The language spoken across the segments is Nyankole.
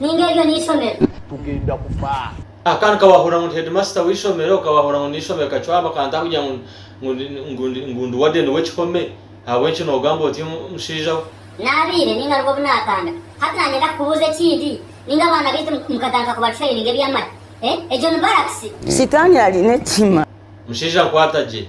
Ninga eryo n'eishomero. Tugenda kufa. Kandi ka wahurira ngu ndi hedimasita w'eishomero, ka wahurira ngu ndi n'eishomero kacwaa bakantaaho kugira ngu ngu ndi wadeni w'ekihome, ahabw'enki noogamba oti omushaija we? Naabaire ninga nibwo obu naatandika. Hati naagyenda kukubuuza ekindi, ninga abaana baitu mukatandika kubatraininga eby'amani? Egyo ni barakisi. Sitaani ari n'ekihiima. Mushaija nkwata gye.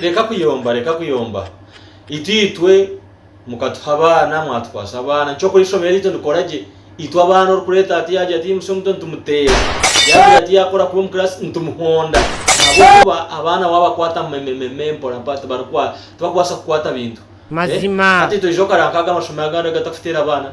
Reka kuyomba, reka kuyomba. Itwe mukatuha abaana, mwatukwasa abaana. Eky'okureeba eishomero ryaitu nikora gye. Itwe abaana orikureeta hati yaagira ati musyo muto nitumuteera. Yaagira ati yaakora kubi omu kiraasi nitumuhonda. Ahabw'okuba abaana waabakwata memememe mporampora tibarikubaasa kukwata bintu. Hati toija okareeba nk'aga mashomero agandi agu tarikwiteera abaana.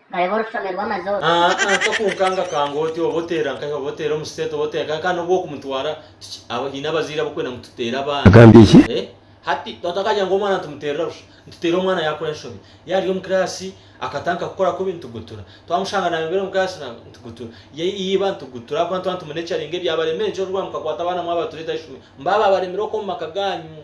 Kareba orufami rw'amazi oru. Aa a Kakunkanga kanga oti oba oteera nkahi oba oteera omu siteeti oba oteera nkahi kandi n'obu okumutwara kiki aba haine abazaire abarikwenda ngu tuteere abaana Agambye ki? e Hati tata akagira ngu omwana nitumuteerera busha nituteera omwana yaakora enshobi yaaba ari omu kiraasi akatanka kukora kubi nitugutura twamushanga naayomera omu kiraasi na nitugutura ya yiba nitugutura ahabw'okuba nituba nitumune caringa ebyabaremire nikyo orikugira ngu mukakwata abaana mwabatureta ahaishomero mbababaremire okwo omu maka gaanyu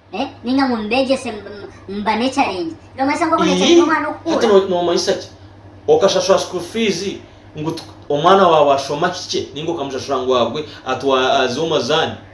ninga ngu mbeegyese mbane ekyarengye. Noomanyisa nk'oku neekyerenyera omwana okukuura? Hati noomanyisa ki? Okashashura school fees ngu omwana waawe ashoma kikye ninga okamushashura ngu agwe aze omu mazaani?